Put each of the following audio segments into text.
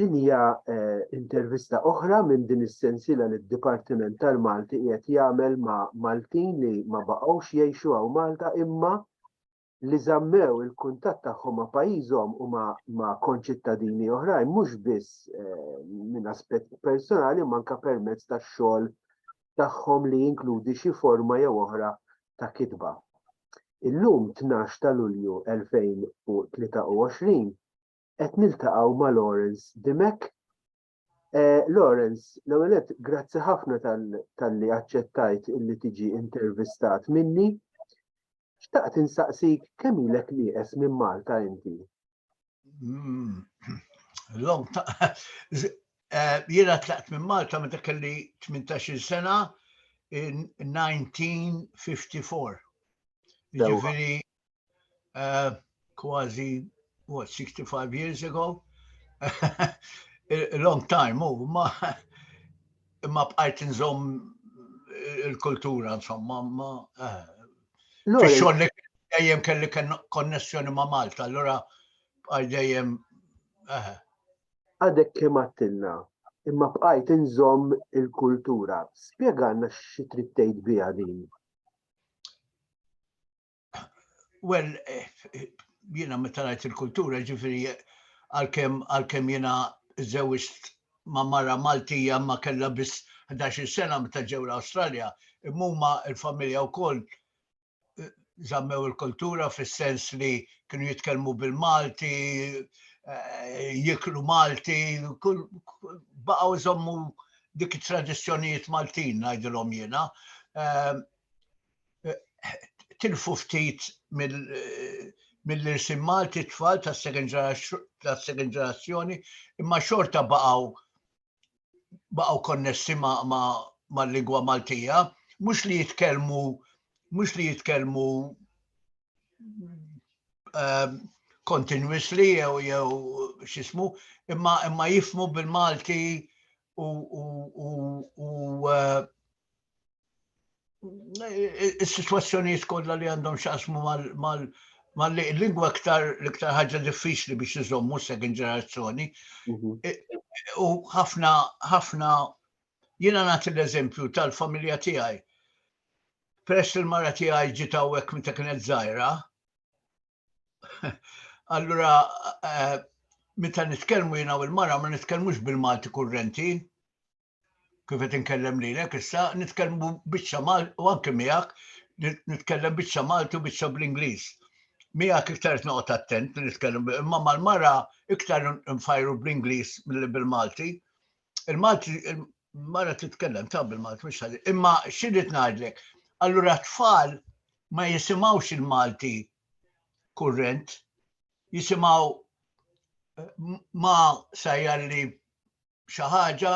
Din hija intervista oħra minn din is-sensiela li d-Dipartiment tal-Malti qiegħed jagħmel ma' Maltin li ma baqgħux jgħixu hawn Malta imma li żammew il-kuntatt tagħhom ma' pajjiżhom u ma' konċittadini oħrajn mhux biss minn aspett personali imma anke permezz tax-xogħol tagħhom li jinkludi xi forma jew oħra ta' kitba. Illum, tnax ta' Lulju 2023, qed niltaqgħu ma' Lawrence Dimech. Lawrence, l-ewwel nett grazzi ħafna talli aċċettajt illi tiġi intervistat minni. Xtaqt insaqsik kemm ilek nieqes minn Malta inti? Mm. Long ta' eh, jiena tlaqt minn Malta meta kelli 18 sena in 1954. Ġifieri eh, kważi what 65 years ago. A long time, u oh, ma ma bqajt nżomm il-kultura, insomma, ma eh, Fix-xogħol li dejjem kelli konnessjoni ma' Malta, allura għal dejjem. Eh. Għadek kemm għattilna, imma bqajt inżomm il-kultura. Spjegana xi trid tgħid biha din. Well, eh, jiena meta ngħid il-kultura ġifieri għalkemm għalkemm jiena żewġt ma' mara Maltija imma kellha biss ħdax-il sena meta ġew l-Awstralja, imma huma l-familja wkoll żammew il-kultura fis-sens li kienu jitkellmu bil-Malti, jieklu Malti, baqgħu jżommu dik it-tradizzjonijiet Maltin ngħidilhom jiena. tilfu ftit mill-irsim Malti tfal tas-second ġenerazzjoni imma xorta baqgħu baqgħu konnessi mal-lingwa Maltija, mhux li jitkellmu mhux li jitkellmu ehm, continuously jew jew xismu, imma imma jifmu bil-Malti u u u u eh, is-sitwazzjonijiet kollha li għandhom x'jaqsmu mal mal-lingwa iktar l-iktar ħaġa diffiċli biex iżommu s-second ġenerazzjoni. Mhm. E, u ħafna, ħafna, jina nagħti l-eżempju tal-familja tiegħi. Peress il-mara tiegħi ġiet hawnhekk minn ta' kienet żgħira, allura e, meta nitkellmu jiena u l-mara ma nitkellmux bil-Malti kurrenti, kif qed inkellem lilek issa, nitkellmu biċċa Malti u anke miegħek nitkellem biċċa Malti u biċċa bl-Ingliż. Miegħek iktar qed noqgħod attent li nitkellem imma mal-mara iktar nfajru bl-Ingliż milli bil-Malti. Il-Malti mara titkellem ta' bil-Malti mhux ħażin. Imma x'irid ngħidlek? Allura tfal ma jisimgħux il-Malti kurrent, jisimgħu eh, ma sajjalli xi ħaġa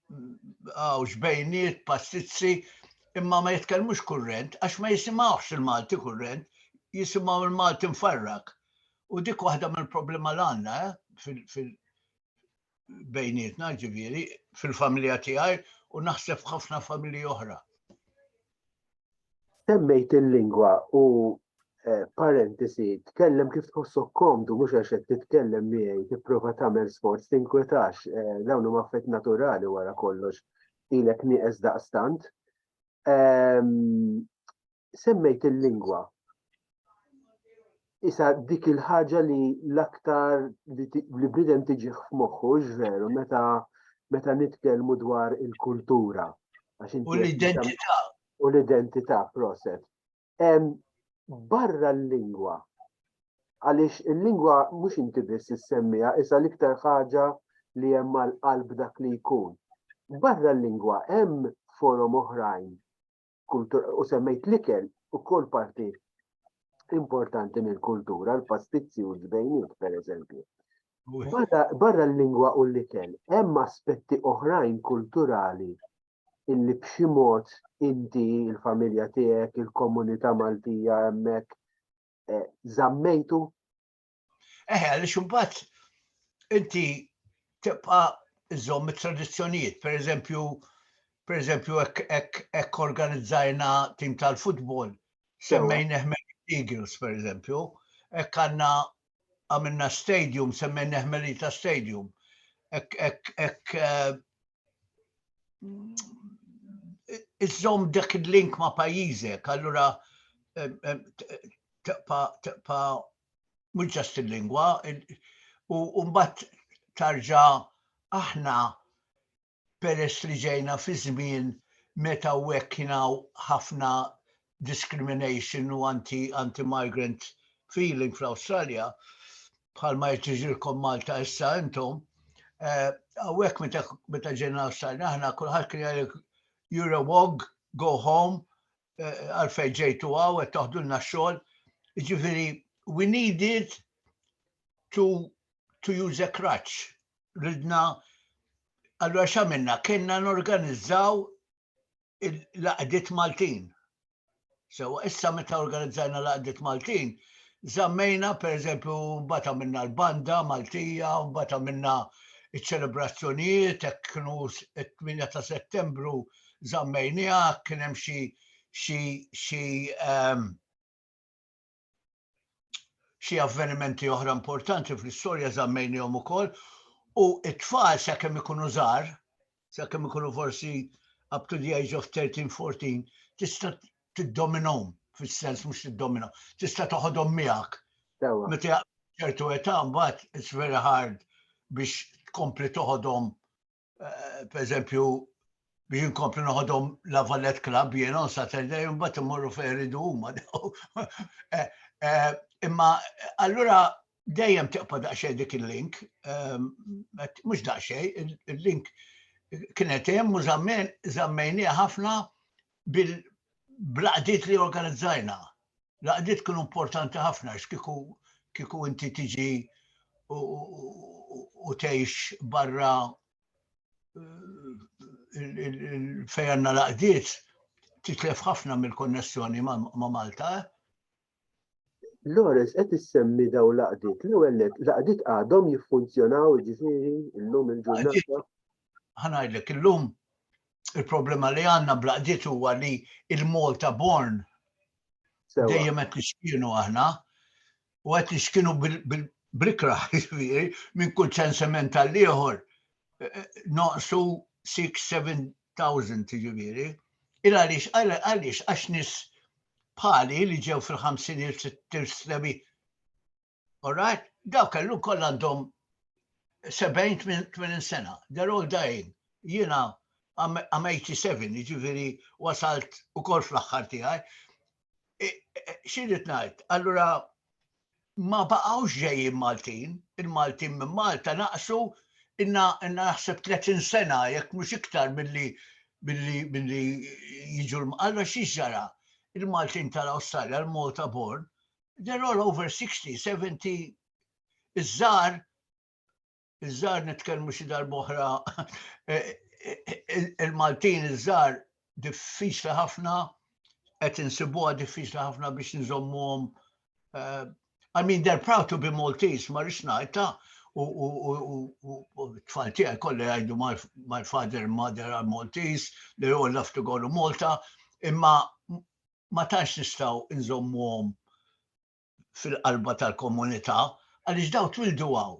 għaw xbejniet, pastizzi, imma ma jitkellmux kurrent, għax ma jisimawx il-Malti kurrent, jisimaw il-Malti mfarrak. U dik waħda mill problema l għanna eh, fil-bejnietna ġiviri, fil-familja tijaj, u naħseb ħafna familji oħra. Semmejt il-lingwa u eh, parentesi, tkellem kif tħossok komdu, mhux għax qed titkellem miegħi, tipprova tagħmel sforz, tinkwetax, eh, dawn huma affett naturali wara kollox, ilek nieqes daqstant. Ehm, semmejt il-lingwa. Issa dik il-ħaġa li l-aktar li bnidem tiġiħ f'moħħu, veru, meta meta nitkellmu dwar il-kultura. U l-identità. U l-identità, proset. Barra l-lingwa. Għaliex il-lingwa mhux inti biss issemmija, issa l-iktar ħaġa li hemm mal-qalb dak li jkun. Barra l-lingwa hemm forom oħrajn u semmejt l-ikel ukoll parti importanti mill-kultura, l-pastizzi u l-ġbejniet, per eżempju. Barra l-lingwa u l-ikel, hemm aspetti oħrajn kulturali illi b'xi mod inti, il-familja tiegħek, il-komunità Maltija hemmhekk eh, żammejtu Eħe, għaliex imbagħad inti tibqa' iżomm it-tradizzjonijiet, per eżempju, per eżempju, hekk organizzajna tim tal-futbol, semmejn eħmel Eagles, per eżempju, hekk għandna għamilna stadium, semmejn eħmelita stadium, hekk eh, iżżomm dak il-link ma' pajjiżek, allura eh, eh, taqpa mhux ġast il-lingwa, u mbagħad tarġa' aħna peress li ġejna fi żmien meta u hekk kien hawn ħafna discrimination u anti-migrant feeling fl-Awstralja, bħalma qed jiġrilkom Malta issa intom, eh, hawnhekk meta ġejna l-Awstralja aħna kulħadd kien jgħidlek you're a wog, go home, eh, għalfej ġejtu għaw, qed taħdulna xogħol. Ġifieri, we needed to, to use a crutch. Ridna, allora xamenna, kena norganizzaw l-laqdiet Maltin. So, issa meta organizzajna l-laqdiet Maltin, zammejna per eżempju bata minna l-banda Maltija, bata minna iċ-ċelebrazzjonijiet, kienu 8 ta' settembru, zammejniha, kien hemm xi xi xi ehm, xi avvenimenti oħra importanti fl-istorja zammejnihom ukoll u it-tfal sakemm ikunu żgħar, sakemm ikunu forsi up to the age of 13-14, tista' tiddominhom fis-sens mhux tiddomina, tista' toħodhom miegħek. Meta ċertu età mbagħad it's very hard biex tkompli toħodhom Eh, per eżempju, biex inkompli noħodhom la Vallet Club jiena on Saturday mbagħad immorru fejn iridu huma. Eh, eh, imma allura dejjem tiqpa' daqsxejn dik il-link, ehm, mhux daqsxejn, il-link kienet hemm u żammen żammejniha ħafna bil-laqdiet li organizzajna. Laqdiet kienu importanti ħafna għax kieku kieku inti tiġi u tgħix barra fejn għandna laqdiet titlef ħafna mill-konnessjoni ma' Malta. Lores qed issemmi daw l-għaqdiet. L-ewwel net, l-għaqdiet għadhom jiffunzjonaw jiġifieri llum il-ġurnata? Ħa ngħidlek, illum il-problema li għandna bl-għaqdiet huwa li il-Malta born dejjem qed nixkienu aħna u qed nixkienu bl-ikra jiġifieri minn kull ċensiment tal-ieħor eh, eh, noqsu 6-7 thousand jiġifieri, il għaliex għaliex għax nies bħali li ġew fil-ħamsinijiet sittin snebi. Alright? Daw kellu koll għandhom 70-80 sena. They're all dying. Jina I'm 87, ġifiri wasalt u koll fl-axħar tijaj. xirrit ngħid, allura ma baqgħux ġejjin Maltin, il-Maltin minn Malta naqsu inna naħseb 30 sena jekk mhux iktar milli billi billi jiġu l-mqalla xi ġara il-Maltin tal-Awstralja, l-Malta born, they're all over 60, 70 iż-żar iż-żgħar nitkellmu xi darba oħra il-Maltin iż-żgħar diffiċli ħafna qed insibuha diffiċli ħafna biex nżommuhom eh, I mean, they're proud to be Maltese, ma rix najta, u tfal tiegħi kollha jgħidu my father and mother are Maltese, they all love to go to Malta, imma ma tantx nistgħu nżommuhom fil-qalba tal-komunità għaliex dawn twildu hawn.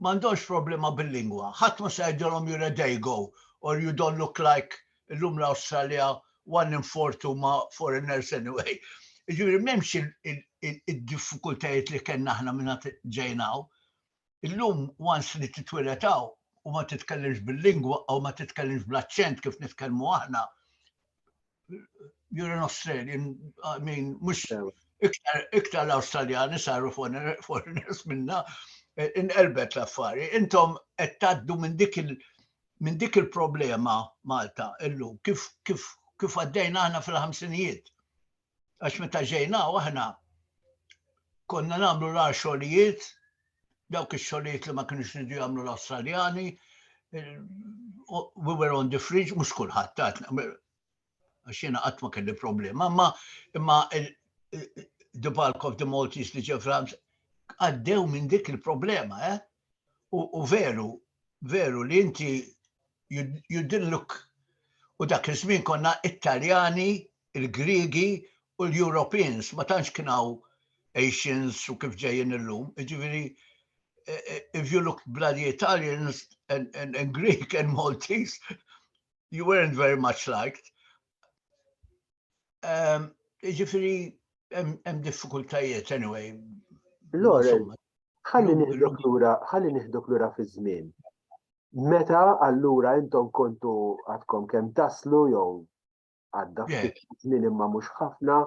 M'għandhomx problema bil-lingwa. Ħadd ma se jgħidilhom you're a Dago or you don't look like illum l-Awstralja one in four huma foreigners anyway. Jiġifieri m'hemmx id-diffikultajiet li kellna aħna mingħand ġejna hawn. Illum once li titwiled hawn u ma titkellimx bil-lingwa u ma titkellimx bl-aċċent kif nitkellmu aħna, you're an Australian, I mean, mhux iktar iktar l-Awstraljani saru foreigners minna, inqelbet l-affari. Intom qed tgħaddu minn dik il- minn dik il-problema Malta illum, kif kif kif għaddejna aħna fil-ħamsinijiet. Għax meta ġejna aħna konna nagħmlu l xogħlijiet, dawk ix-xogħlijiet li ma kienux ridu jagħmlu l-Awstraljani, we were on the fridge, mhux kulħadd tat, għax jiena qatt ma kelli problema, imma imma the bulk of the Maltese li ġew France għaddew minn dik il-problema, eh? u veru, veru li inti you didn't look u dak iż-żmien konna Italjani, il-Griegi u l-Europeans, ma tantx kien hawn Asians u kif ġejjin illum. Ġifieri eh, eh, if you looked bloody Italians and, and, and Greek and Maltese, you weren't very much liked. Um, ġifiri, Hemm diffikultajiet anyway. Loren, ħalli nieħdok lura, ħalli nieħdok lura fiż-żmien. Meta allura intom kontu għadkom kemm taslu jew għadda żmien imma mhux ħafna,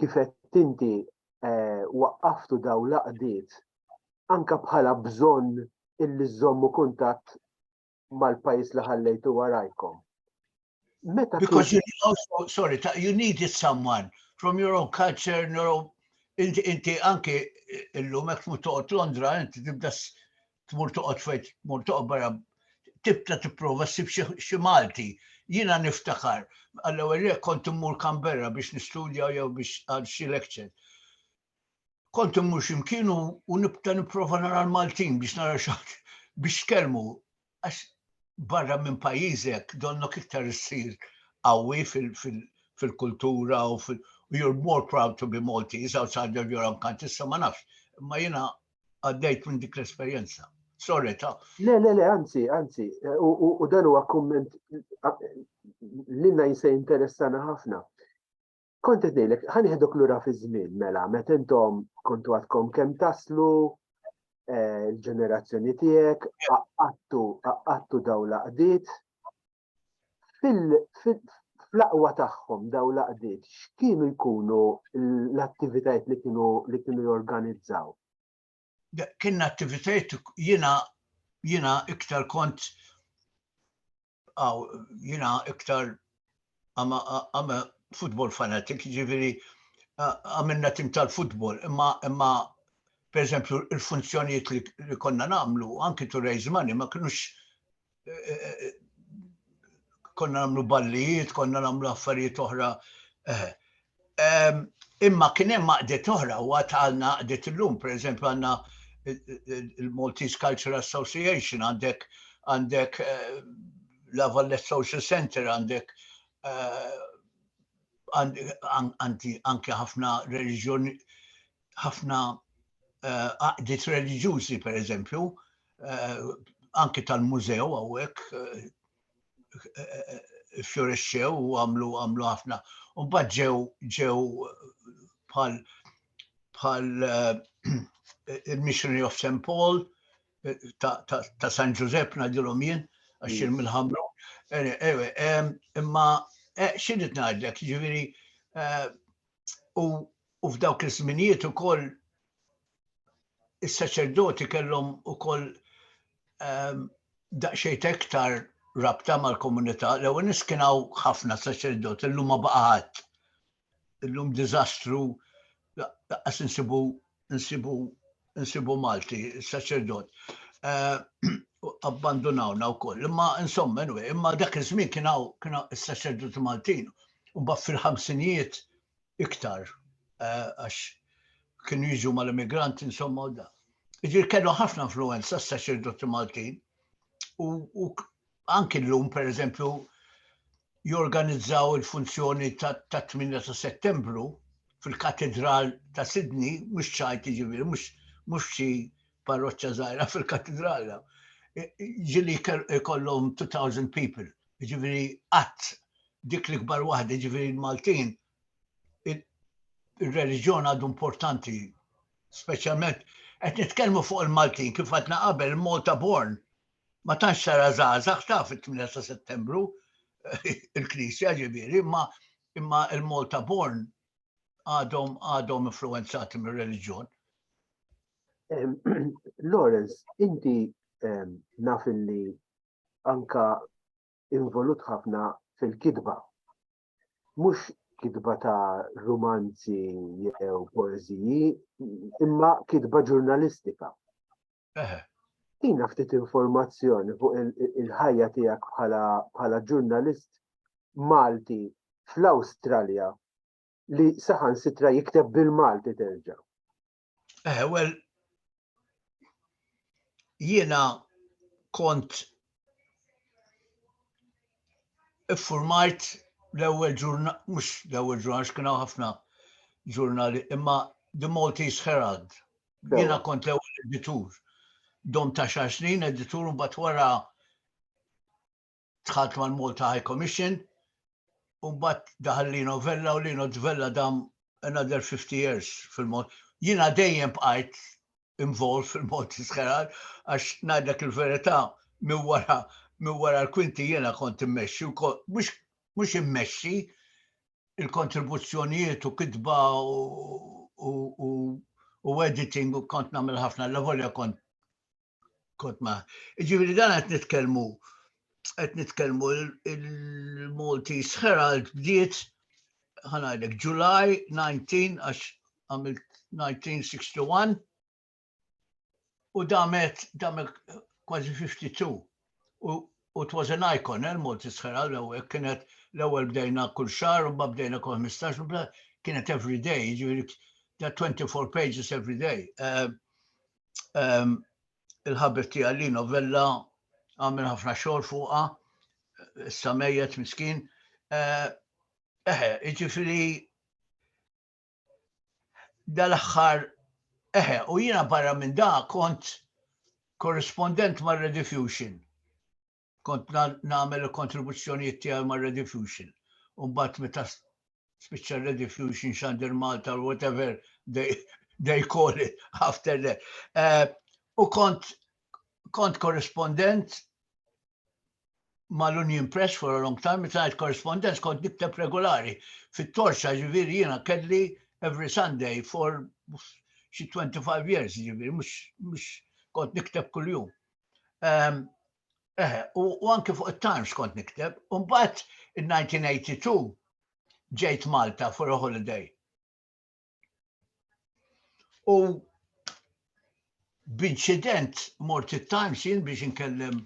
kif qed inti eh, waqqaftu daw laqdiet anka bħala bżonn illi żommu kuntatt mal-pajjiż li ħallejtu warajkom. Meta Because you need also, sorry, you needed someone from your own culture, your own... Inti, inti anki illum hekk tmur toqgħod Londra, inti tibda tmur toqgħod fejn tmur toqgħod barra tibda tipprova ssib xi Malti. Jiena niftakar, għall-ewwel kont immur Canberra biex nistudja jew biex għal xi lecture. kont immur ximkien u nibta nipprova nara l-Maltin biex nara xaħt biex tkellmu. Għax barra minn pajjiżek donnok iktar issir qawwi fil-kultura u fil- you're more proud to be Maltese outside of your own country, issa ma nafx, ma jina għaddejt minn dik l-esperienza. Sorry, ta' Le, le, le, anzi, anzi, u dan huwa komment l-inna jisaj interessana ħafna. Kont qed ngħidlek, ħa nieħdok lura fiż-żmien mela, meta intom kontu għadkom kemm taslu, eh, il-ġenerazzjoni tiegħek, qaqqattu qaqqattu daw laqdiet. Fl-aqwa tagħhom daw laqdiet, x'kienu jkunu l-attivitajiet li kienu li kienu jorganizzaw? kien attivitajiet jina jina iktar kont għaw jina iktar għama futbol fanatik, ġiviri għamilna tim tal-futbol, imma imma per eżempju il-funzjonijiet li konna namlu, anki to raise money, ma kienux konna namlu ballijiet, konna namlu affarijiet oħra. Eh, imma kien hemm maqdet oħra u għad għalna għadet illum, per eżempju għandna il-Maltese Cultural Association għandek għandek eh, la Vallet Social Center għandek eh, anki ħafna reġjoni ħafna eh, għaqdiet reliġjużi per eżempju, eh, anki tal-mużew għawek, fjorexxew u għamlu għamlu ħafna. U bad ġew ġew bħal bħal il-Missionary of St. Paul ta' San Ġużepp nadilhom jien għax mm. mill-ħamru. Imma xi ngħidlek, ġifieri u f'dawk iż-żminijiet ukoll is-saċerdoti kellhom ukoll ehm, daqsxejn iktar rabta mal-komunità, l-ewwel nies kien hawn ħafna saċerdoti, illum ma baqa' ħadd. Illum diżastru laqas insibu nsibu nsibu Malti, saċerdot. Eh, abbandunawna u koll. Imma insomma, imma dak iż-żmien kien hawn is-saċerdot Maltin. U mbagħad fil-ħamsinijiet iktar eh, għax kienu jiġu mal-immigranti insomma u da. Iġir kellu ħafna influenza s-saċerdoti Maltin u anki llum pereżempju jorganizzaw il-funzjoni tat-8 ta' Settembru fil-Katidral ta' Sydney, mhux ċajt jiġifieri, mhux xi parroċċa żgħira fil-Katidral. Ġieli jkollhom 2000 people, jiġifieri qatt dik l-ikbar waħda, jiġifieri l-Maltin ir-reliġjon għadu importanti, speċjalment qed nitkellmu fuq il-Maltin kif għadna qabel Malta born Ma tantx tara żgħażagħ taf it-8 ta' Settembru, il-Knisja ġifieri, imma imma il-Malta Born għadhom għadhom influenzati mir-reliġjon. Lawrence, inti naf li anka involut ħafna fil-kidba. Mhux kidba ta' romanzi jew poeziji, imma kidba ġurnalistika. Eħe. Tina ftit informazzjoni fuq il-ħajja tiegħek bħala ġurnalist Malti fl-Awstralja li saħan sitra jikteb bil-Malti terġa. Eh, well, jiena kont iffurmajt l-ewwel ġurnal, mhux l-ewwel ġurnal, x'kienu ħafna ġurnali, imma The Maltese Herald Jiena kont l-ewwel editur. Dom ta' xar snin editur mbagħad wara tħalt mal-Malta High Commission u mbagħad daħal li novella u li novella dam another 50 years fil-mod. Jiena dejjem bqajt involved fil-mod iskerar għax ngħidlek il-verità minn wara minn wara l-kwinti jiena kont immexxi u mhux immexxi il-kontribuzzjonijiet u kitba u editing u kont namil ħafna l-lavolja kont kont ma. Ġiviri dan għet nitkelmu, għet nitkelmu il-Maltese Herald bdiet ħanajlek July 19 għax għamilt 1961 u damet damet kważi 52 u u it was an icon, eh, il-Malti sħera l-ewwel kienet l-ewwel bdejna kull xar, u bdejna kull 15, u kienet every day, ġifieri that 24 pages every day. Eh, ehm, il-ħabib tiegħi li novella għamil ħafna xogħol fuqha, issa mejjet miskin. Eh, eħe, ġifieri dal-aħħar eħe, u jiena barra minn da kont korrispondent mar Rediffusion. Kont nagħmel il-kontribuzzjonijiet tiegħi mar Rediffusion. Umbat meta spiċċa Rediffusion xandir Malta or whatever they, they call it after that. Eh, u kont kont korrispondent ma' l-Union Press for a long time, meta ngħid correspondence kont nikteb regulari fit-torċa ġifieri jiena kelli every Sunday for xi 25 years ġifieri mhux kont nikteb kuljum. Ehm, eh, u anke fuq it-Times kont nikteb, u mbagħad in-1982 ġejt Malta for a holiday. U b'inċident mort it-Times jien biex inkellem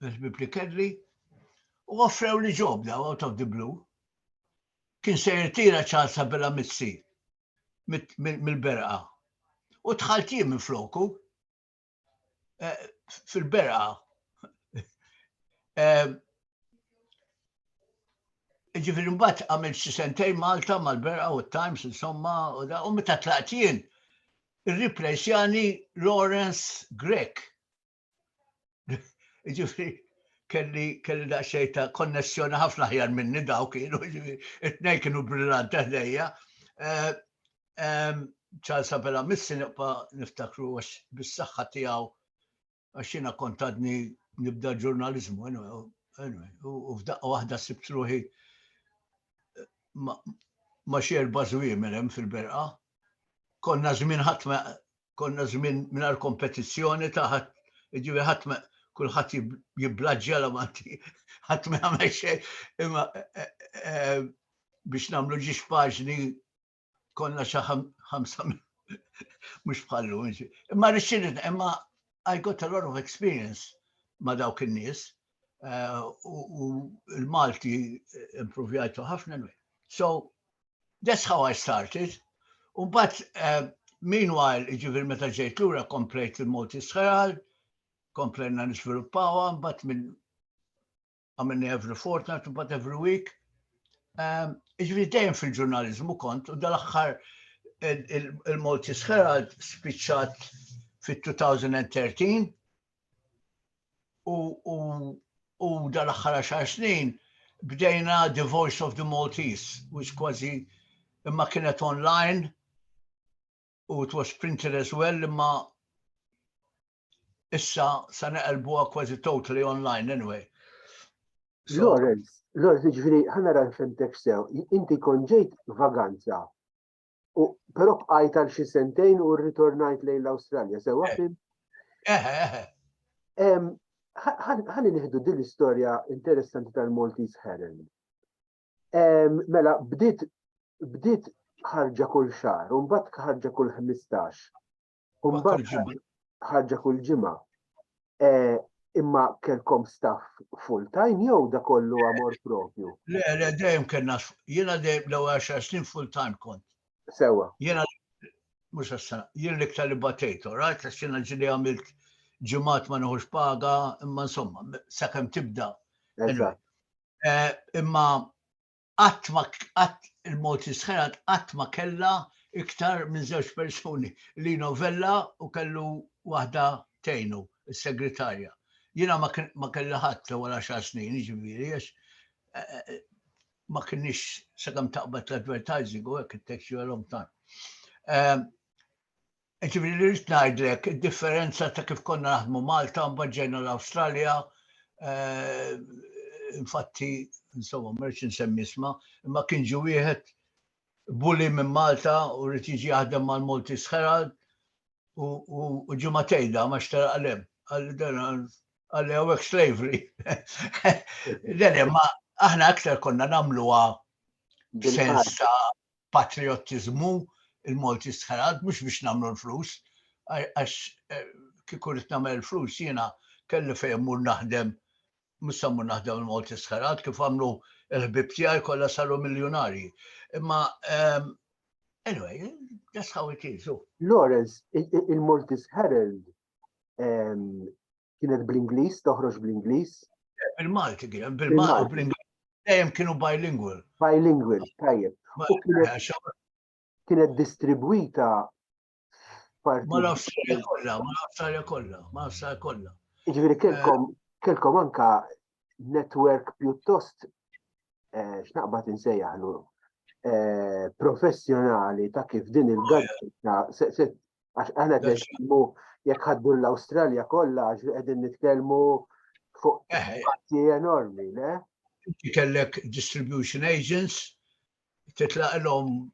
il-Bibli Kelly u offrew li ġob daw out of the blue. Kien se jirtira Charles Abela Mizzi mill-berqa. U tħalt jien minn floku. eh, fil-bera eh, ġifiri mbatt għamil xi sentej Malta mal-bera u t-Times insomma u da u meta tlaqt jien irriplejsjani Lawrence Grek. Ġifiri kelli kelli daqsxejn ta' konnessjoni ħafna ħjar minni daw kienu it-tnejn kienu brillanti ħdejja. Eh, Charles Abela Missi nibqa' niftakru għax bis-saħħa tiegħu għax jiena kont għadni nibda ġurnaliżmu u f'daqqa waħda sibt ruħi ma xi erba' żwiemel hemm fil-berqa. Konna żmien ħadd konna żmien mingħajr kompetizzjoni ta' ħadd jiġifieri ħadd kulħadd jiblaġġja la manti ħadd ma jagħmel xejn. Imma e, e, e, biex nagħmlu ġiex paġni konna xi ħamsa mhux bħallu. Imma rixxirid, imma I got a lot of experience ma' dawk in-nies eh, u l-Malti improvjajtu ħafna. So, that's how I started. U bat, eh, meanwhile, ġivir meta ġejt lura komplejt il-Malti Sħeral, komplejna nisviluppawa, bat minn għamilni every fortnight, but every week. Ehm, Ġviri dejjem fil-ġurnalizmu kont, u dal-axħar il-Maltese Herald spiċċat fit-2013 u dal-axħar xar snin bdejna The Voice of the Maltese, which kważi imma kienet online u it was printed as well imma issa sa neqelbuha kważi totally online anyway. Lawrence, Lawrence, ġviri, ħana ran femtek sew, inti konġejt vaganza, u pero bqajt għal xi sentejn u rritornajt lejn l-Awstralja, sewa eh. fim? Eħe, eh, eħe. Eh, ħani nieħdu din l-istorja interessanti tal-Maltese Heron. Mela, bdiet bdiet ħarġa kull xar, un bat ħarġa kull 15. Kumbagħad ħarġa kull ġimgħa. Eh, imma kelkom staff full time jew da kollu amor propju? Le, le, dejjem kellna, jiena dejjem l-ewwel għaxar snin full time kont. Sewa. Jiena mhux għassa, jien l-iktar li batejtu, rajt għax jiena ġili għamilt ġimgħat ma neħux paga, imma insomma, sakemm tibda. Eh, imma qatt ma qatt il-Maltese Herald qatt ma kellha iktar minn żewġ persuni, Lino Vella u kellu waħda tgħinu, is-segretarja. Jiena ma ma kelli ħadd l-ewwel għaxar snin, jiġifieri għax eh, eh, ma kienx sakemm taqbad l-advertising u hekk it-tax you a long time. Ehm, Ġifieri li rrid ngħidlek, id-differenza ta' kif konna naħdmu Malta u mbagħad ġejna l-Awstralja, infatti, insomma, ma rridx insemmi isma, imma kien ġie wieħed bully minn Malta u rrid jiġi jaħdem mal-Maltese Herald u ġie ma tgħidha ma xtara qalem. Għalli hawnhekk slavery. Le, ma aħna aktar konna nagħmluha sens ta' patriottiżmu, il-Malti stħarat, mhux biex nagħmlu l-flus, għax kieku rrid nagħmel il-flus jiena kelli fejn immur naħdem, mhux se mmur naħdem il-Malti stħarat kif għamlu l-ħbieb tiegħi kollha saru miljunarji. Imma anyway, that's how it is. Lawrence, il-Maltese Herald kienet bl-Ingliż, toħroġ bl-Ingliż. Bil-Malti kien, bil-Malti u bl-Ingliż. Dejjem kienu bilingual. Bilingual, tajjeb. Kienet distribwita f'parti. Ma nafx kollha, ma nafx kollha, ma nafx kollha. Jiġifieri eh, kelkom kelkom anka network pjuttost eh, x'naqbad insejjaħlu eh, professjonali ta' kif din il-gazzetta Għax aħna qed nitkellmu jekk ħaddu l-Awstralja kollha għax qegħdin nitkellmu fuq eh, eh. parti enormi, le? Inti kellek distribution agents titlaq l-om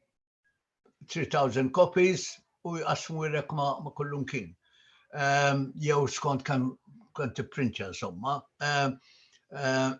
3000 copies u jqasmu jrek ma, ma kullum kien. Um, jew skont kan kan tipprintja insomma. Um, um,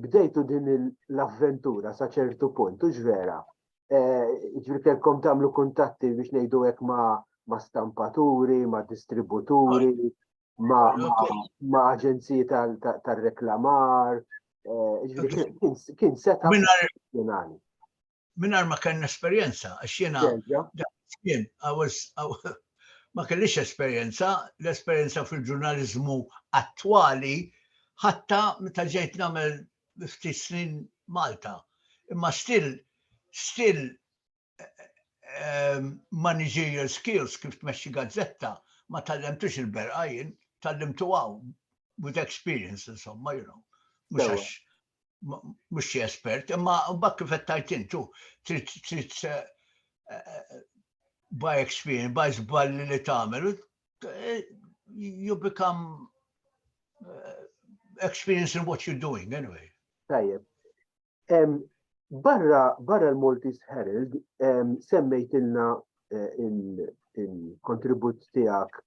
bdejtu din l-avventura sa ċertu punt, u ġvera. Eh, ġveri kelkom tamlu kuntatti biex nejdu hekk ma' ma' stampaturi, ma' distributuri, ma', ma, ma aġenziji tal-reklamar. Eh, kien seta' mingħajr ma kellna esperjenza, għax jiena kien ma kellix esperjenza, l-esperjenza fil-ġurnaliżmu attwali ħatta meta ġejt nagħmel ftit snin Malta. Imma still still ehm, managerial skills kif tmexxi gazzetta ma tallemtux il-berqa jien, tallimtu għaw with experience insomma, you know. Mhux mhux xi espert, imma mbagħad kif qed tajt intu trid trid eh, eh, by experience, by żball li tagħmel, eh, you become experience in what you're doing anyway. Tajjeb. Barra barra l-Maltese Herald semmejtilna il-kontribut tiegħek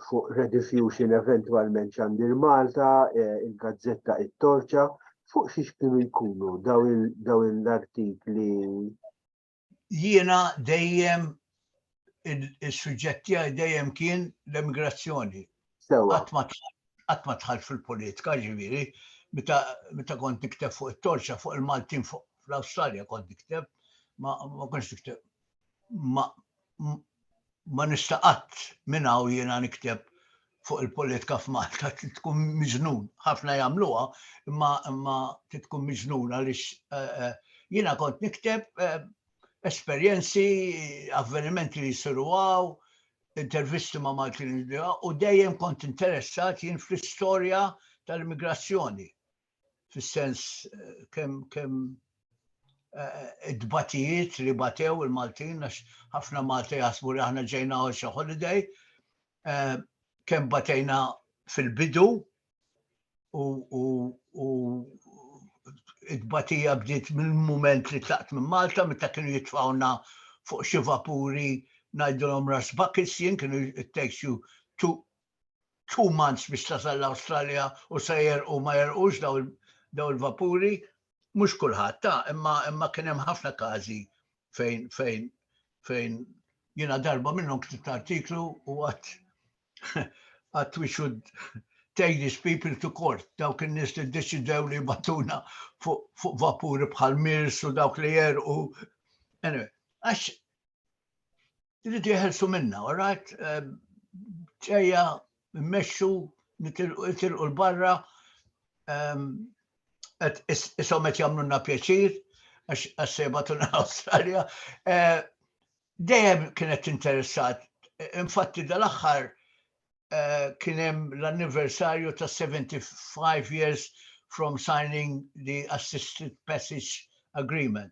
fuq rediffusion eventualment ċandir Malta, eh, il-gazzetta it-torċa, fuq xiex kienu jkunu daw l-artikli? Jiena dejjem il-suġġetti għaj dejjem kien l-emigrazzjoni. Għat ma tħal fil-politika ġiviri, meta kont nikteb fuq il-torċa, fuq il-Maltin fuq fl-Australja kont nikteb, ma konx nikteb ma ma nista' qatt minn hawn jiena nikteb fuq il-politika f'Malta tkun miġnun. Ħafna jagħmluha, imma imma tkun miġnun għaliex eh, eh, jiena kont nikteb eh, esperjenzi, avvenimenti li jsiru għaw, intervisti ma' Maltin u dejjem kont interessat jien fl-istorja tal-immigrazzjoni. fis-sens kemm kemm id-batijiet li batew il-Maltin għax ħafna Malti jaħsbu li aħna ġejna għal xi holiday kemm batejna fil-bidu u it-tbatija bdiet mill-mument li tlaqt minn Malta meta kienu jitfawna fuq xi vapuri ngħidulhom ras bakis jien kienu it takes you two two months biex tasal l-Awstralja u se jerqu u ma jerqux daw il-vapuri, mhux kulħadd ta' imma kien hemm ħafna każi fejn fejn fejn jiena darba minnhom ktibt artiklu u għadd għadd we should take these people to court, dawk in-nies li ddeċidew li jbattuna fuq vapuri bħal mirs u dawk li jerqu. Anyway, għax Irridu jeħelsu minna, all right? Ġejja, mmexxu, nitilqu l-barra, isom qed jagħmlulna pjaċir, għax se jibgħatulna l-Awstralja. Eh, dejjem kienet interessat, infatti dal-aħħar eh, kien hemm l-anniversarju ta' 75 years from signing the assisted passage agreement.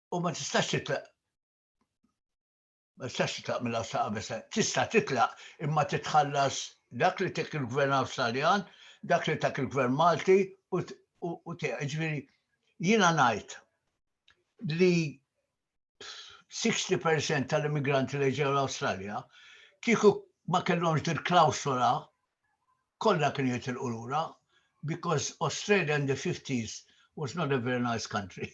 u ma tistax titlaq ma tistax titlaq mill sa qabesa. Tista' titlaq imma titħallas dak li tek il-gvern Awstraljan, dak li tak il-gvern Malti u te ġviri jina najt li 60% tal-immigranti li ġew l-Awstralja kieku ma kellhomx dil klawsola kollha kien jitilqu lura because Australia in the 50s was not a very nice country.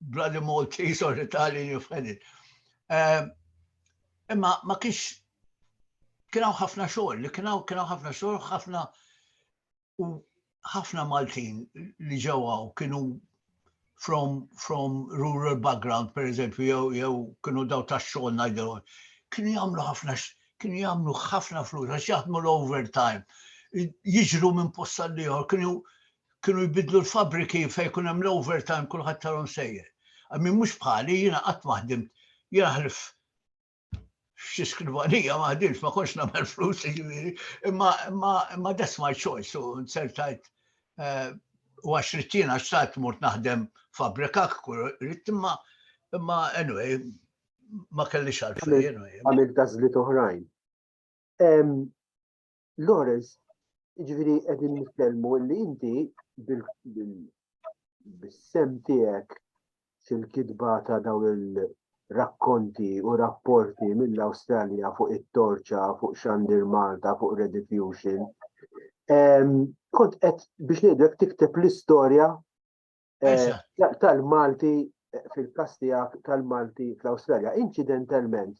bloody Maltese or Italian, you've had it. Eh, imma ma kiex kienaw ħafna xogħol, li kienaw kienaw ħafna xogħol, ħafna u ħafna Maltin li ġewaw kienu from, from rural background, per eżempju, jew jew kienu daw ta' xogħol ngħidu, kienu jagħmlu ħafna kienu jagħmlu ħafna flus għax jaħdmu l-overtime, jiġru minn posta l-ieħor, kienu Kienu jbiddlu l-fabbriki fejn jkun hemm l-overtime kulħadd tarom sejjer. Min mhux bħali jiena qatt ma ħdimt, jiena ħlif xi skrivanija ma ħdimx, ma kontx nagħmel flus jiġifieri, imma imma that's my choice u nsertajt eh, u għax rid jiena xtaqt mort naħdem fabbrika kull rid imma imma anyway ma kellix għalfejn. Għamil tażlit oħrajn. Lawrence, ġviri għedin nitkellmu li inti bil-sem tijek fil-kidba ta' daw il-rakkonti u rapporti mill-Australja fuq it-torċa, fuq xandir Malta, fuq Rediffusion. Kont għed biex nidrek tikteb l-istoria eh, tal-Malti eh, fil-kastijak tal-Malti fl-Australja. Incidentalment,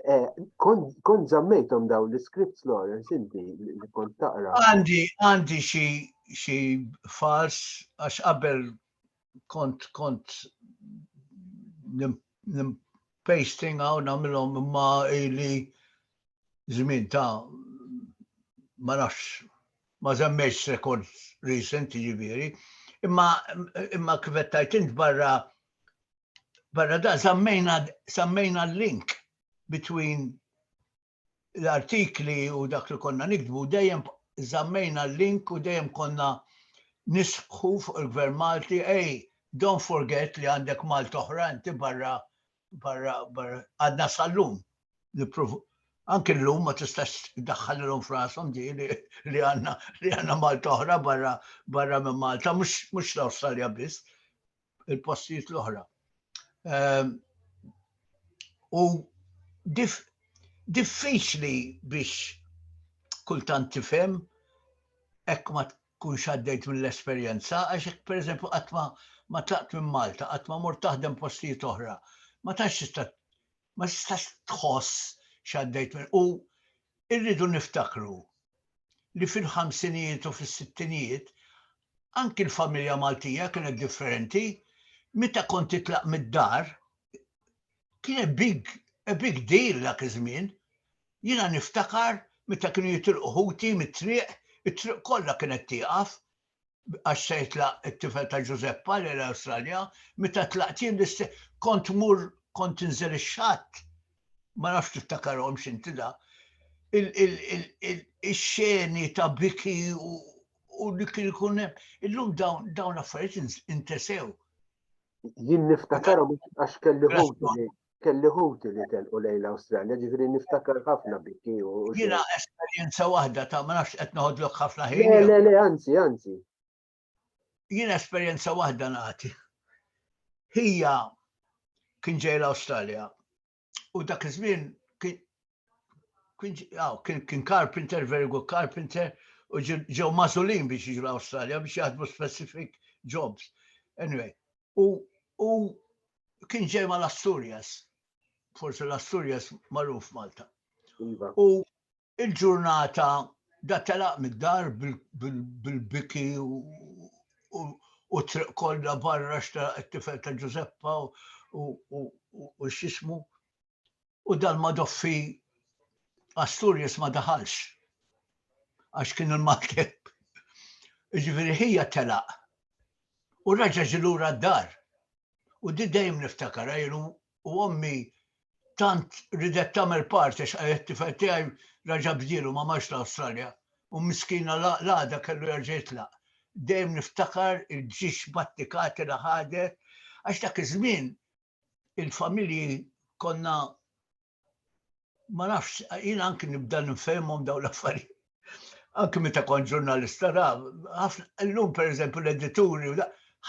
Eh, kon zammejtom daw l-scripts Lawrence inti li kont taqra. Għandi, għandi xi fals għax qabel kont kont pasting għaw namilom ma li zmin ta' ma nafx ma zemmejx rekord recent ġiviri imma imma kvettajt int barra Barra da sammejna l-link between l-artikli u dak li konna nikdbu dejjem zammejna l-link u dejjem konna nisħu fuq il-Gvern Malti, ej, don't forget li għandek Malta oħra, inti barra, barra, barra, għadna sal-lum. Anki l-lum ma tistax daħħal l-lum frasom di li għanna li għanna Malta oħra barra, barra minn Malta, mux l-Australia biss. il-postijiet l-oħra. Ehm, u diffiċli biex kultant tifhem hekk ma tkunx għaddejt mill-esperjenza, għax hekk pereżempju qatt ma tlaqt minn Malta, qatt ma mort taħdem postijiet oħra, ma tax tista' ma tistax tħoss x'għaddejt minn u irridu niftakru li fil-ħamsinijiet u fis-sittinijiet Anki l-familja Maltija kienet differenti. Meta kont titlaq mid-dar, kien a big, a big deal dak iż-żmien. Jiena niftakar meta kienu jitilqu ħuti mit-triq, it-triq kollha kienet tieqaf għax se jitlaq it-tifel ta' Ġużeppa lejn l-Awstralja, meta tlaqt jien l-istess, kont tmur, kont tinżel ix-xatt, ma nafx tiftakarhomx inti da, ix-xeni ta' biki u li kien ikun illum dawn dawn l-affarijiet intesew. Jien niftakar għax kelli ħuti kelli ħuti li telqu lejn l-Awstralja, ġifieri niftakar ħafna bikki u. Jiena esperjenza waħda ta' ma nafx qed noħodlok ħafna ħin. Le, le, le, anzi, anzi. Jien esperjenza waħda nagħti. Hija kien ġej l-Awstralja u dak iż-żmien kien carpenter, very good carpenter, u ġew mażulin biex jiġu l-Awstralja biex jaħdmu specific jobs. Anyway, u kien ġej mal-Asturias, forse l-Asturias maruf Malta. Iva. U Il-ġurnata da telaq mid-dar bil-biki u t-triq kollha barra x'telaq it-tifel ta' Ġużeppa u x'jismu u dal-madoffi Asturias ma daħalx għax kien il-maltemp. Jiġifieri ħija telaq u raġa' ġie lura d-dar u di dejjem niftakarha jien u ommi tant ridet tagħmel party għax qalet it-tifel tiegħi raġa' bdielu ma marx l-Awstralja u miskina l-għada kellu jerġa' jitlaq. Dejjem niftakar il-ġiex battikati li ħadet għax dak iż-żmien il-familji konna ma nafx jiena anki nibda nifhimhom dawn l-affarijiet. Anki meta kont ġurnalista ra, llum pereżempju l-edituri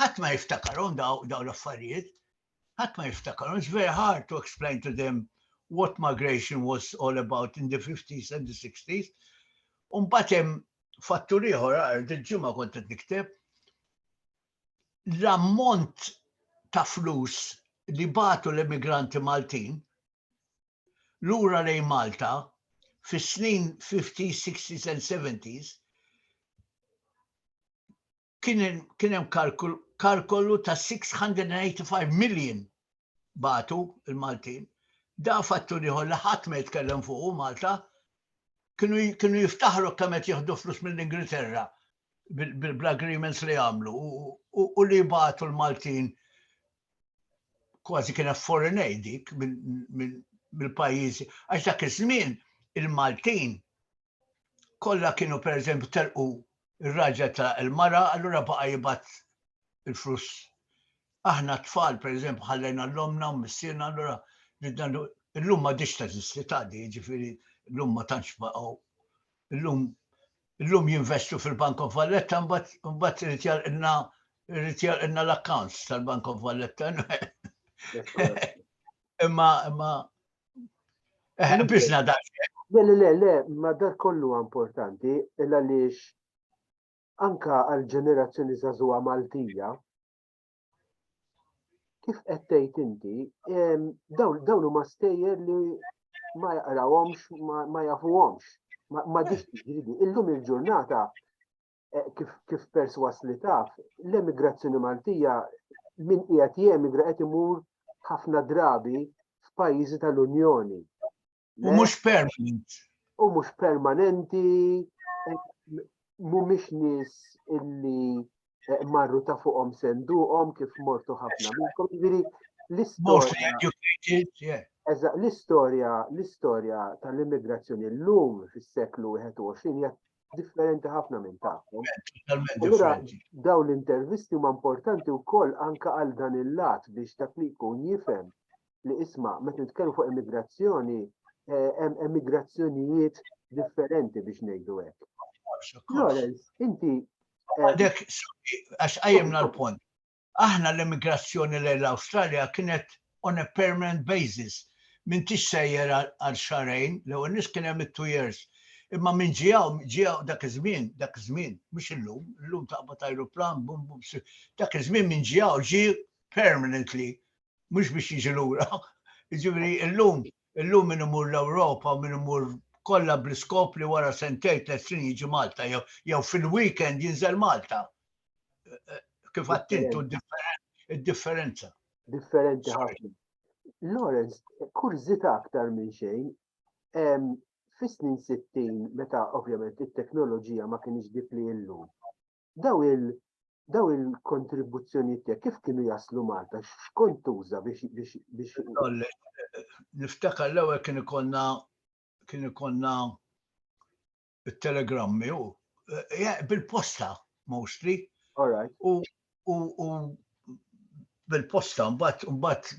ħadd ma jiftakarhom dawn l-affarijiet. Ħadd ma jiftakarhom, it's very hard to explain to them what migration was all about in the 50s and the 60s. Umbat hemm fattur ieħor għal dil-ġimgħa kont qed nikteb l-ammont ta' flus li batu l-emigranti Maltin lura lejn Malta fis-snin 50s, 60s and 70s kien kien hemm kalkolu ta' 685 million batu il-Maltin. Da fattur ieħor li ħadd ma jitkellem fuqu Malta. Kienu kienu jiftaħru kemm qed jieħdu flus mill-Ingilterra bl-agreements li għamlu u li batu l-Maltin kważi kien foreign aid dik mill-pajjiżi. Għax dak iż-żmien il-Maltin kollha kienu pereżempju telqu r-raġel telaq il-mara, allura baqa' jibgħat il-flus. Aħna t-tfal pereżempju ħallejna l-omna u missierna allura illum ma diċ teżisti taqdi, jiġifieri llum ma tantx baqgħu. Illum illum jinvestu fil-Bank of Valletta mbagħad irid jalqilna irid jalqilna l-accounts tal-Bank of Valletta. Imma imma Eh, biex nadax. Le, le, le, le, ma dar kollu importanti, illa lix anka għal-ġenerazzjoni zazuwa Maltija, kif qed tgħid inti, dawn huma stejjer li ma jaqrawhomx, ma jafuhomx, ma ġiex jiġri. Illum il-ġurnata eh, kif, kif perswas li taf, l-emigrazzjoni Maltija min qiegħed jemigra qed imur ħafna drabi f'pajjiżi tal-Unjoni. U mhux permanent. U mhux permanenti, mhumiex nies illi eh, marru ta' fuqhom senduqhom kif mortu ħafna minnkom. Jiġifieri l-istorja l-istorja, l-istorja tal-immigrazzjoni l-lum fis-seklu 21 hija differenti ħafna minn tagħhom. Allura daw l-intervisti huma importanti wkoll anke għal dan il-lat biex dak li jkun jifhem li isma' meta nitkellmu fuq immigrazzjoni eh, hemm emigrazzjonijiet differenti biex ngħidu hekk. Lawrence, inti eh, għadek għax qajjimna l-punt. Aħna l-immigrazzjoni lejn l-Awstralja kienet on a permanent basis, m'intix sejjer għal xahrejn, l-ewwel nett kien hemm it-two years, imma min ġie hawn ġie hawn dak iż-żmien, dak iż-żmien, mhux illum, illum taqbad ajruplan bum bum, dak iż-żmien min ġie hawn ġie permanently, mhux biex jiġi lura, jiġifieri illum Illum min imur l-Ewropa u min imur kollha bl-iskop li wara sentejn, tliet snin jiġi Malta jew jew fil-weekend jinżel Malta. Kif għedt int hu d-differenza. Differenti ħafna. Lawrence, kurżità aktar minn xejn, fis-snin 60 meta ovvjament it-teknoloġija ma kinitx dik li hi llum, daw il daw il-kontribuzzjonijiet tiegħek kif kienu jaslu Malta? X'kont tuża biex biex Niftakar l-ewwel kien ikollna kien ikollna it-telegrammi u eh, bil-posta mostly. All right. U u bil-posta, mbatt, mbatt,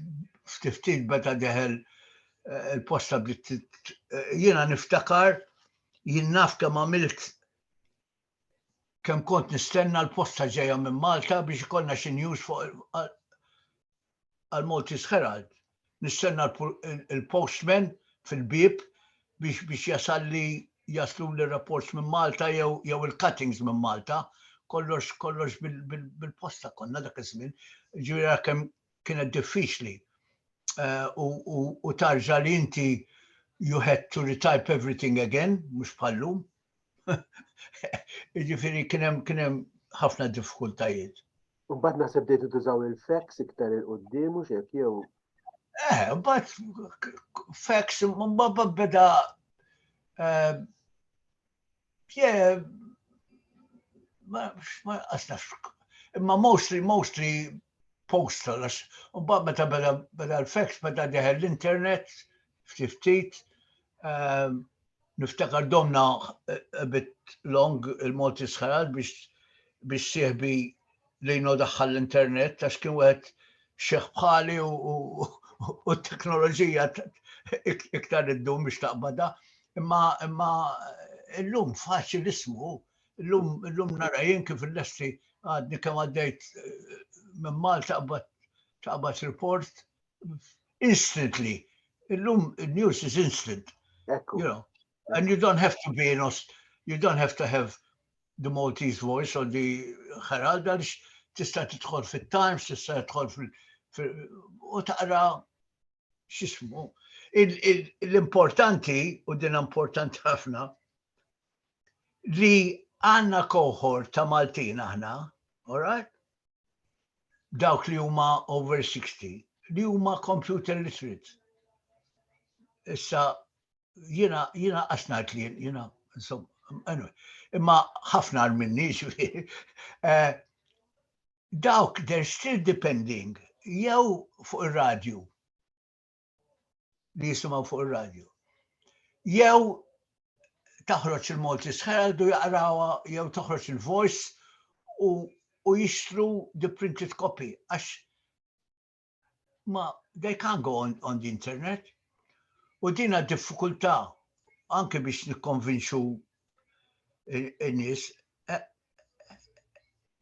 ftiftit beta deħel eh, il-posta bdiet eh, jiena niftakar jien naf kemm għamilt Kemm kont nistenna l-posta ġejja minn Malta biex ikollna xi news fuq għal-Maltese Herald. Nistenna l-postman fil-bieb biex biex jasalli jaslu li rapports minn Malta jew jew il-cuttings minn Malta. Kollox kollox bil-posta konna dak iż-żmien. Ġifieri kemm kienet diffiċli. Eh, u tarġa li inti you had to retype everything again, mhux bħallum. Ġifiri kienem kienem ħafna diffikultajiet. Mbagħad naħseb bdejtu tużaw il-fax iktar il-qudiem u xek jew. Eh, mbagħad fax mbagħad beda eh, ma għasnafx. Imma mostly, mostly postal, għax unbaq meta beda beda l-fax, beda deħel l-internet, ftit ftit, ehm, Niftakar domna a bit long il-Malti Sħarat biex biex sieħbi li jno daħħal l-internet għax kien wieħed xeħ bħali u t-teknoloġija iktar id-dum biex taqbada. Imma imma illum faċi l-ismu, illum nara jien kif il-lesti għadni kemm għaddejt eh, minn Malta taqbad report instantly. Illum news is instant. Ekku. You know, and you don't have to be in you don't have to have the Maltese voice or the Herald għaliex tista' tidħol fit-Times, tista' tidħol fil u taqra x'ismu. L-importanti u din importanti ħafna li għanna koħor ta' Maltin aħna, all right? dawk li huma over 60 li huma computer literate. Issa jiena jiena qasnajt li jiena insomma imma ħafna għal minni eh, dawk they're still depending jew fuq ir-radju li jisimgħu fuq ir-radju. Jew taħroġ il-Malti Herald u jaqrawha jew toħroġ il-Voice u, u jixtru the printed copy għax ma they can't go on, on the internet. U dina diffikultà anke biex nikkonvinċu in-nies. E,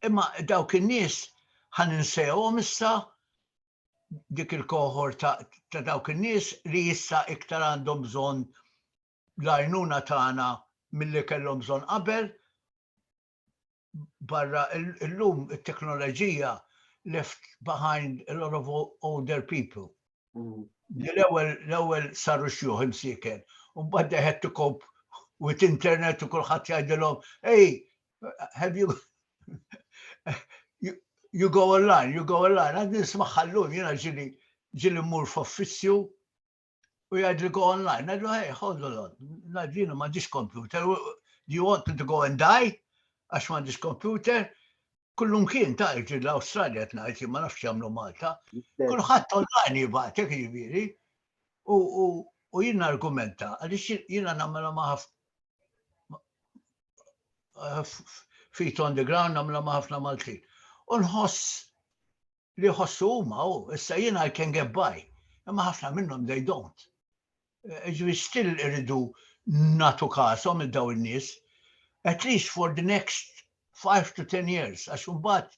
imma dawk in-nies ħan insejhom issa dik il-koħor ta', ta dawk in-nies li issa iktar għandhom bżonn l-għajnuna tagħna milli kellhom bżonn qabel. Barra illum it-teknoloġija left behind a lot of older people. Mm. L-ewwel l-ewwel saru xjuħ imsiken, u mbagħad deħed tikop with internet u kulħadd jgħidilhom, ej, Have you you go online, you go online, għad nisma ħallun, jena ġili ġili mur f'uffizzju u jgħad li go online, għadlu hey, hold on, naġina ma ġiġ computer, do you want me to go and die? Għax ma ġiġ computer, kullum kien ta' ġil l-Australia t-najti, ma nafx jamlu Malta, kullħat online jibatek jibiri, u jina argumenta, għalix jina namela maħaf eh, feet on the ground namla ma' ħafna Maltin. U nħoss li ħossu huma u issa jien I can get by. Imma ħafna minnhom they don't. Eh, ġifieri still iridu natu kasom il daw in-nies at least for the next 5 to 10 years għax imbagħad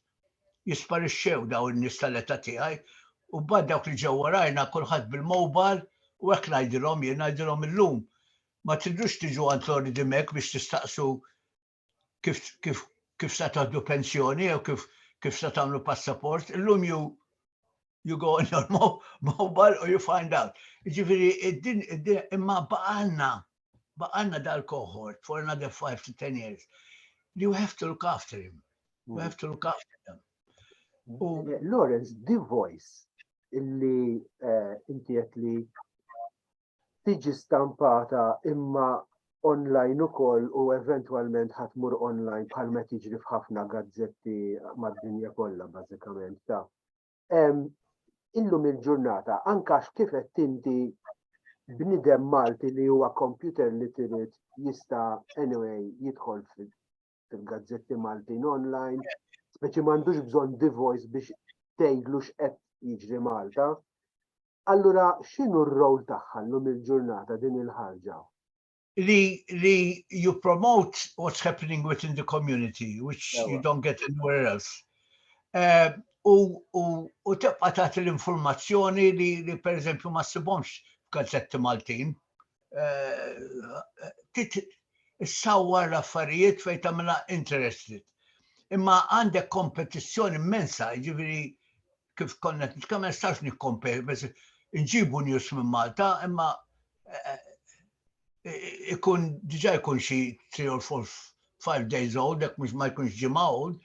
jisparixxew daw in-nies tal-età tiegħi u bad dawk li ġew warajna kulħadd bil-mobile u hekk ngħidilhom jien ngħidilhom illum ma tridux tiġu għand Lord Dimech biex tistaqsu kif, kif, kif sa taħdu pensjoni jew kif, kif sa tagħmlu passaport. Illum ju you go on your mobile or you find out. Ġifiri, id-din, id-din, imma baqanna, baqanna dal-cohort for another 5 to 10 years. You have to look after him. You have to look after them. U... Eh, Lawrence, the voice illi eh, inti li tiġi stampata imma online ukoll u eventwalment ħadd mur online bħal ma tiġri f'ħafna gazzetti mad-dinja kollha bażikament ta' illum il-ġurnata anke għax kif qed tinti bnidem Malti li huwa computer literate jista' anyway jidħol fil-gazzetti Maltin online, speċi m'għandux bżonn divojs biex tgħidlu x'qed jiġri Malta. Allura x'inhu r-rol tagħha llum il-ġurnata din il-ħarġa? Li li you promote what's happening within the community, which you don't get anywhere else. Eh, u tibqa' tagħti l-informazzjoni li per eżempju ma ssibhomx f'gazzetti Maltin. issawwar l-affarijiet fejn tagħmilha interested. Imma għandek kompetizzjoni immensa, jiġifieri kif konna nitkellem nistax nikkompeti, biss nġibu news minn Malta, imma eh, eh, ikun diġà jkun xi 3 or 4 5 days old, dek mhux ma jkunx ġimgħa old,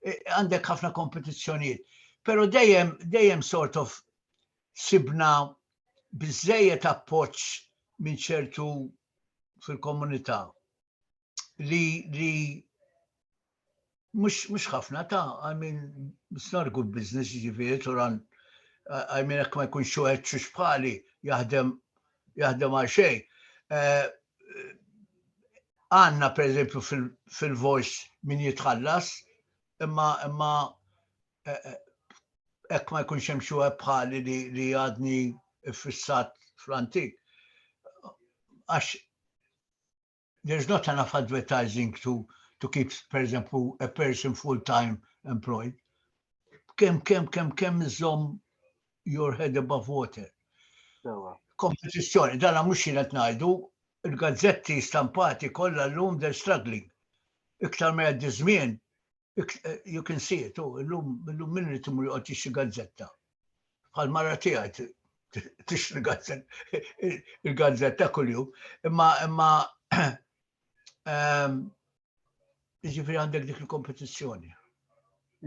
eh, għandek ħafna kompetizzjonijiet. Pero dejjem, dejjem sort of ksibna biżżejjed appoġġ minn ċertu fil-komunità li li mhux mhux ħafna ta' I mean it's not a good business jiġifieri turan I mean hekk ma jkunx wieħed xux bħali jaħdem jaħdem għal xejn. Eh, għanna per eżempju fil-voice min jitħallas imma imma hekk ma jkunx hemm xi wieħed bħali li għadni ffissat fl-antik. Għax there's not enough advertising to to keep, per eżempju, a person full-time employed. Kem, kem, kem, kem iżom your head above water. Kompetizjoni, dana mux jinet najdu, il-gazzetti stampati kolla l-lum they're struggling. Iktar ma jaddi żmien, You can see it, u illum illum min irid imur joqgħod jixtri gazzetta. Bħal mara tiegħi tixtri gazzetta il-gazzetta kuljum. Imma imma ehm, jiġifieri għandek dik il-kompetizzjoni.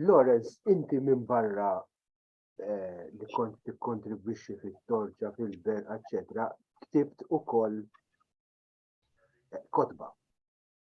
Lorenz, inti minn barra eh, li kont tikkontribwixxi fit-torċa, fil-ber, eċċetera, ktibt ukoll eh, kotba.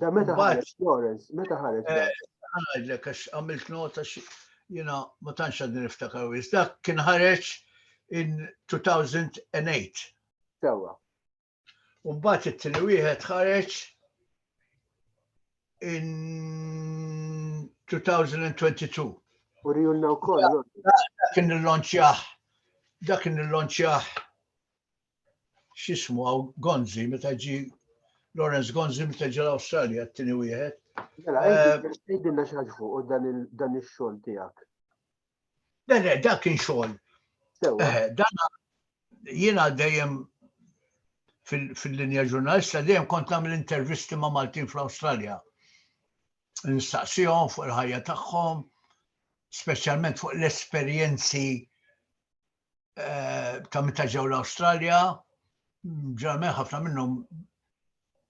Da meta ħareġ Flores, meta ħareġ. Għadlek, eh, għax għamilt nota jina ma tantx għadni niftakar wis. Dak kien ħareġ in 2008. Sewa. Umbat it-tini wieħed ħareġ in 2022. U rijulna u koll. Dak kien il-lonċjaħ. Dak kien il-lonċjaħ xismu għaw Gonzi, meta ġi Lawrence Gonzi, meta ġi l-Australia, t-tini wieħed. Mela, għidinna eh, xaġ fuq dan il-xol tijak. Dan dak kien xol. Eh, dan jina dejjem fil-linja ġurnalista dejjem kont nagħmel intervisti ma' Maltin fl-Awstralja. Nistaqsihom fuq il-ħajja tagħhom, speċjalment fuq l-esperjenzi eh, ta' meta ġew l-Awstralja, ġarmen ħafna minnhom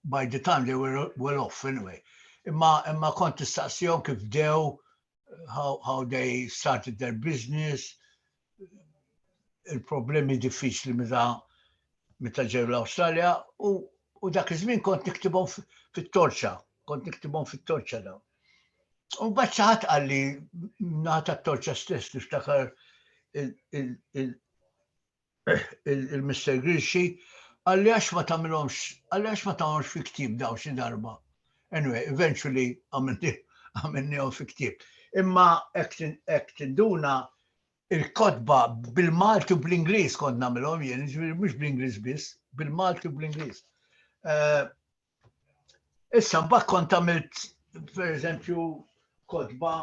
by the time they were well off anyway. Imma imma kont tistaqsihom kif dew how, how they started their business, il-problemi diffiċli meta meta ġew l-Awstralja u, u dak iż-żmien kont niktibhom fit-torċa, kont niktibhom fit-torċa dawn. U bat saħat għalli nata t-torċa stess niftakar il-Mr. Grilxi għalli għax ma tamilomx, għalli għax ma tamilomx fi ktib daw xi darba. Anyway, eventually għamilni għom fi ktib. Imma ek tinduna il-kodba bil-Malti u bl-Inglis kont namilom jien, mux bl-Inglis biss, bil-Malti u bl-Inglis. Eh, Issa mbagħad kont għamilt pereżempju kotba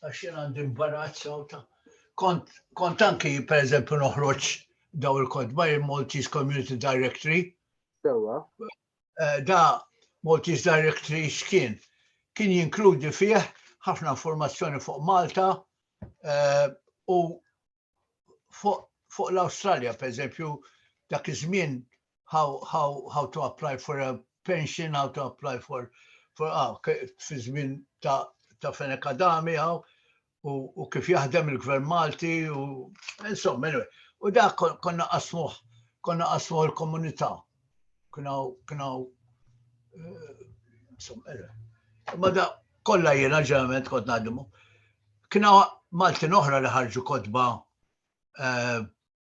għax jien għandi imbarazz ta' kont kont anki pereżempju noħroġ daw il-kotba il-Maltese Community Directory. Sewa. Eh, da Maltese Directory x'kien? Kien jinkludi fih ħafna informazzjoni fuq Malta eh, u fuq l-Awstralja, per eżempju, dak iż-żmien how, how, how to apply for a pension, how to apply for for ah, fi żmien ta' ta' Fenek Adami għaw u kif jaħdem il-Gvern Malti u insomma, anyway. U da konna qasmuh, konna qasmuh il-komunità. Knaw, knaw, eh, insomma, eh. ma da kollha jiena ġeneralment kont ngħaddimu. Kna Maltin oħra li ħarġu kotba, eh,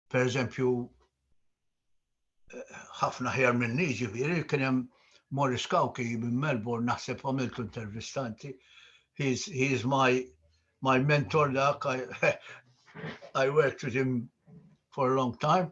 per eżempju, ħafna ħjar minni ġifieri kien hemm Morris Kawki minn Melbourne naħseb għamiltu intervistanti. He is my my mentor dak I, I worked with him for a long time.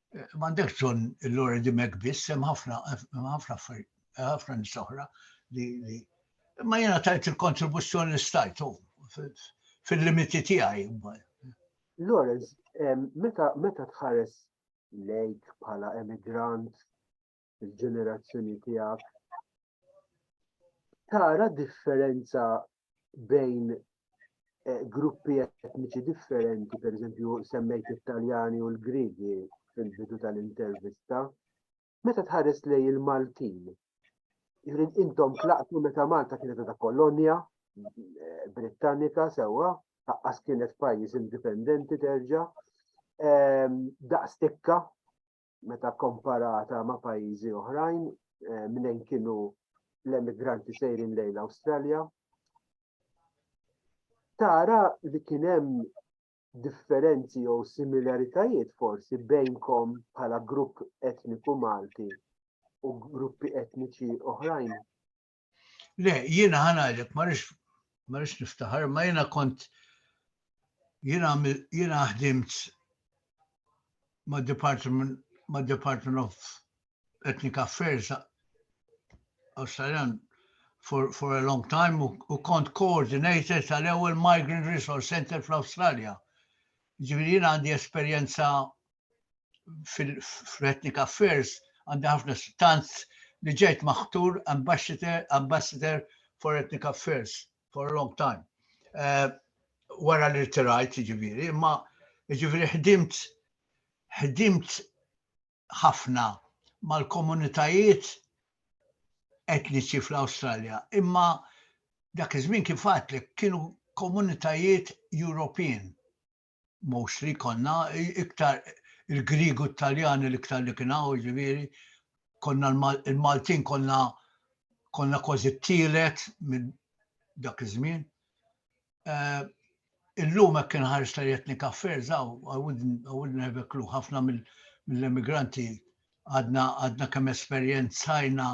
M'għandekx bżonn il-Lore di Mek biss, hemm ħafna ħafna ħafna nies oħra li ma jiena tajt il-kontribuzzjoni li stajt oh, fil-limiti tiegħi. Lawrence, meta tħares lejk bħala emigrant il-ġenerazzjoni tiegħek tara differenza bejn eh, gruppi etniċi differenti, per eżempju semmejt Italjani u l-Grigi fil-bidu tal-intervista, meta tħares lej il-Maltin. Jrid intom tlaqtu meta Malta kienet ta' kolonja eh, Britannika sewwa, taqqas kienet pajjiż indipendenti terġa' ehm, daqstikka meta komparata ma' pajjiżi oħrajn eh, minn kienu l-emigranti sejrin lejn l-Awstralja. Tara li kien hemm differenzi jew similaritajiet forsi bejnkom bħala grupp etniku Malti u gruppi etniċi oħrajn Le, jiena ħanajlek, marix marix niftaħar, ma jiena kont jiena jiena ħdimt ma' Department ma' Department of Ethnic Affairs Australian for, for a long time u kont coordinator tal-ewwel Migrant Resource Center fl-Awstralja. Ġifieri jiena għandi esperjenza fil-Ethnic Affairs għandi ħafna tant li ġejt maħtur ambassador, ambassador for Ethnic Affairs for a long time. Uh, wara li rtirajt ġiviri, imma ġiviri ħdimt ħdimt ħafna mal-komunitajiet etniċi fl-Awstralja, imma dak iż-żmien kif li kienu komunitajiet European mhux li konna, iktar il-Griegu t-Taljani l-iktar li kien hawn, ġifieri, konna l-Maltin konna konna kważi t-tielet minn dak iż-żmien. Eh, illum hekk kien ħares ta' jetni kaffer, zaw, I wouldn't have a clue, ħafna mill-emigranti għadna għadna kemm esperjenzajna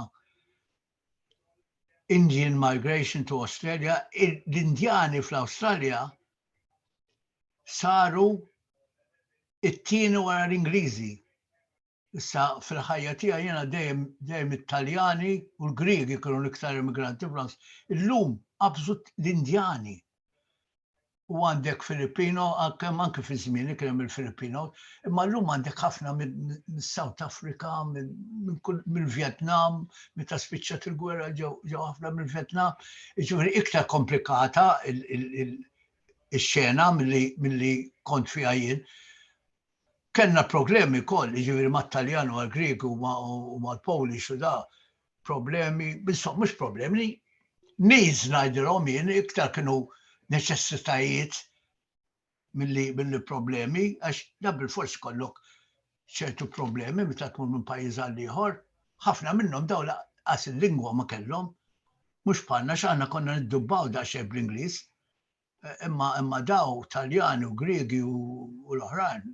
Indian Migration to Australia, l-Indjani fl-Awstralja saru it-tieni wara l-Ingliżi. Issa fil-ħajja tiegħi jiena dejjem dejjem it-Taljani u l-Griegi kienu l-iktar immigranti fl-Awstralja. Illum qabżu l-Indjani. u għandek Filippino, kemm anki fi żmieni kien hemm il-Filippino, imma llum għandek ħafna mis-South Africa, mill-Vjetnam, meta spiċċat il-gwerra ġew ħafna mill-Vjetnam. Jiġifieri iktar komplikata ix-xena milli kont fiha jien. Kellna problemi wkoll, jiġifieri mat-Taljan u mal-Grieg u mal-Polish u da, problemi, bissom mhux problemi, needs ngħidilhom jien iktar kienu neċessitajiet milli billi problemi, għax da bil-fors kollok ċertu problemi meta tmur minn pajjiż għal ieħor, ħafna minnhom daw laqas il-lingwa ma kellhom, mhux bħalna x'aħna konna niddubbaw da xejn bl-Ingliż. Imma imma daw Taljani u Griegi u l-oħrajn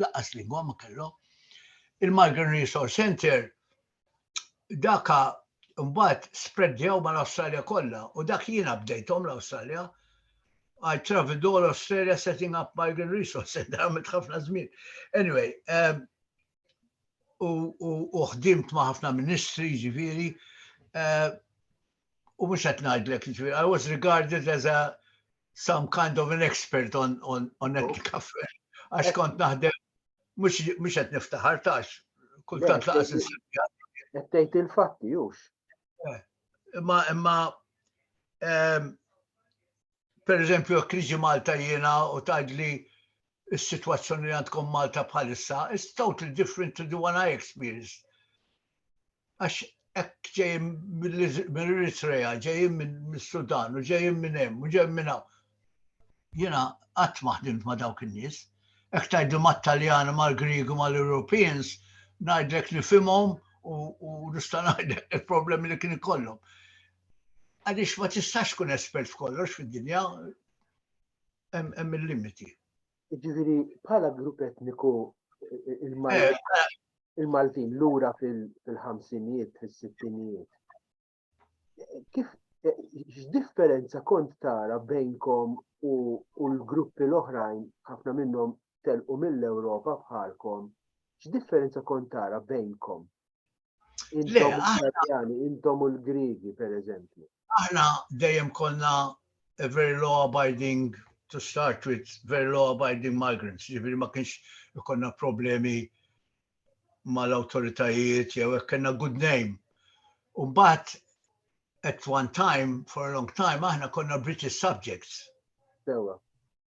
laqqas lingwa ma kellhom. Il-Migrant Resource Center daka mbagħad spreddjaw mal-Awstralja kollha u dak jiena bdejthom l-Awstralja I traveled all Australia setting up migrant resource center għamilt ħafna żmien. Anyway, um, u ħdimt ma' ħafna ministri ġifieri, uh, u mhux qed ngħidlek, jiġifieri, I was regarded as a some kind of an expert on, on, on oh. ethic affairs. Għax kont naħdem, mux għet niftaħar tax, kultant laqas il-sibja. Għettejt il-fatti, jux. Eh, imma, imma, ehm, per eżempju, kriġi Malta jena u taġli is-sitwazzjoni li għandkom Malta bħalissa is totally different to the one I experienced. Għax hekk ġejjin mill-Eritrea, ġejjin mill-Sudan, u ġejjin minn hemm, u ġejjin minn hawn. Jiena qatt ma ħdimt ma' dawk in-nies. Hekk tgħidlu mat-Taljani, mal-Griegu, mal-Europeans, ngħidlek nifhimhom u nista' ngħidlek il-problemi li kien ikollhom. Għaliex ma tistax tkun espert f'kollox fid-dinja, hemm il-limiti. Ġifieri bħala grupp etniku il-Maltin eh, eh. lura fil-ħamsinijiet, fis-sittinijiet. Kif eh, x'differenza kont tara bejnkom u l-gruppi l-oħrajn ħafna minnhom telqu mill-Ewropa bħalkom, x'differenza kont tara bejnkom? Intom u l-Grigi, per eżempju. Aħna dejjem konna a very law abiding to start with very law abiding migrants, ġifiri ma kienx ikonna problemi mal-autoritajiet jew hekk kellna good name. U mbagħad at one time for a long time aħna konna British subjects. Sewa.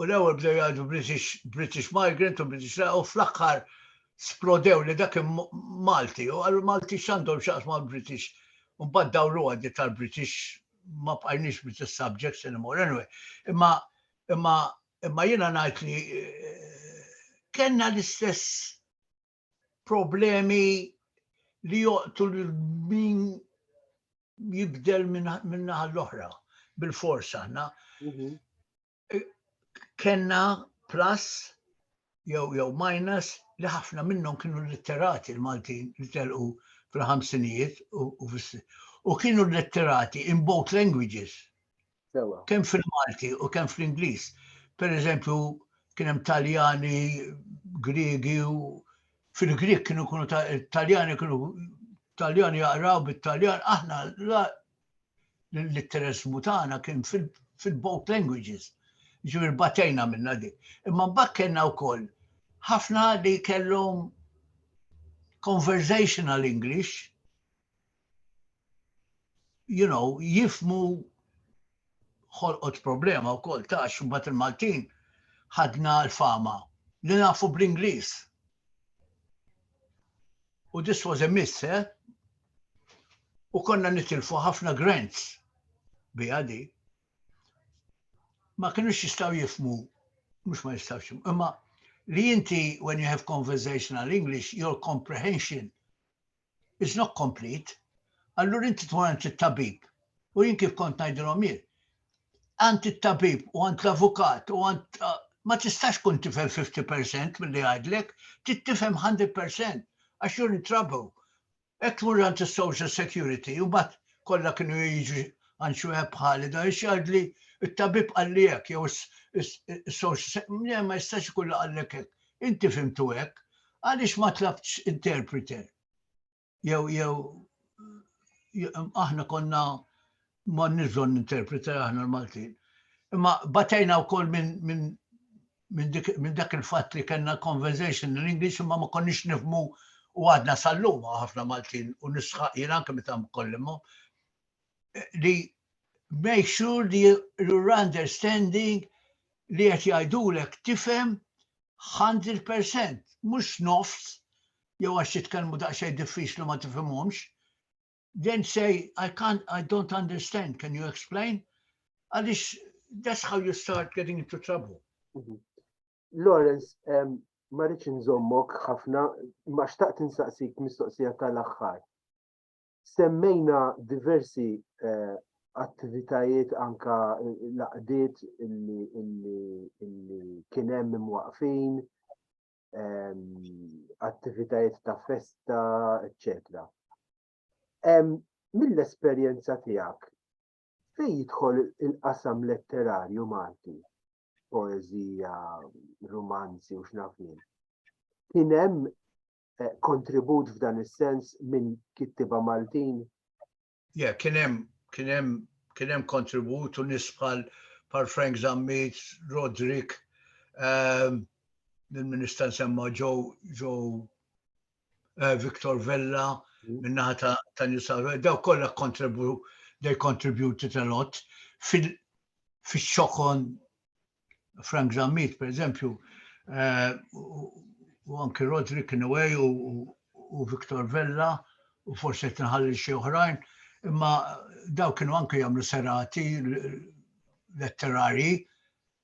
u l-ewwel bdew jgħidu British, British migrant u British u fl-aħħar splodew li dak Malti u għallu Malti x'għandhom xaqs ma' British. U mbagħad dawru għaddi tal-British ma bqajniex British subjects anymore. Anyway, imma imma imma jiena ngħid li eh, kellna l-istess problemi li joqtu l-min jibdel minna l-oħra bil-fors aħna. Mhm. E, kenna plus jew jew minus li ħafna minnhom kienu litterati l-Maltin li telqu fil-ħamsinijiet u kienu litterati in both languages. Sewa. Kemm fil-Malti u kemm fl-Ingliż. Per eżempju, kien hemm Taljani, Griegi u fil-Grieg kienu kunu Taljani kienu Taljani jaqraw bit-Taljan, aħna l-litteresmu tagħna kien fil-both languages. Ġifier batejna minna dik. Imma mbagħad kellna wkoll ħafna li kellhom conversational English you know, jifmu ħolqot problema u kol tax mbagħad il-Maltin ħadna l-fama li nafu bl-Ingliż. U this was a miss, eh? U konna nitilfu ħafna grants bi għadi. Ma kienux jistaw jifmu, mux ma jistaw xim, imma li jinti when you have conversational English, your comprehension It's not complete. Allura inti tkun għand it-tabib. U jien kif kont ngħidilhom jien, għand it-tabib u għand l-avukat u għand ma tistax kun tifhem 50% mill-li għajdlek, tittifhem 100% għax you're in trouble. Ek tmur għand il-Social Security u bat kollha kienu jiġu għand xi wieħed bħali da jgħidli it-tabib għalli hekk jew is-social ma jistax ikun għallek hekk. Inti fhimtu hekk, għaliex ma tlabtx interpreter? Jew jew aħna konna ma nizon interpreter aħna l-Maltin. Imma batejna wkoll minn min, min dak il-fatt li kellna conversation in English imma ma konniex nifmu u għadna sal-lum ħafna Maltin u nisħaq jien anke meta mkollimhom li make sure li you're understanding li qed jgħidulek tifhem 100%, mhux nofs, jew għax jitkellmu daqsxejn diffiċli ma tifhimhomx. Then say, I can't, I don't understand, can you explain? Għaliex that's how you start getting into trouble. Mhm. Lawrence, um, ma rridx nżommok ħafna, ma xtaqt insaqsik mistoqsija tal-aħħar. Semmejna diversi eh, attivitajiet anka laqdiet illi kien hemm imwaqfin, ehm, attivitajiet ta' festa, eccetera. Ehm, mill-esperjenza tiegħek fej jidħol il-qasam letterarju Malti, poezija, romanzi u xnafin. Kien hemm eh, kontribut f'dan is-sens minn kittiba Maltin? Ja, kien hemm kien hemm kien hemm kontribut u nisbħal par Frank Zammit, Rodrik, ehm, il-Minister semma ġo ġo eh, Victor Vella, mm. minnaħa ta' ta' Nisar, daw kollha kontribu they contributed a lot fil-xokon Frank Zammit, per eżempju, eh, u anki Rodri Kinway u Viktor Vella u forse qed nħalli xi oħrajn, imma daw kienu anki jagħmlu serati letterari,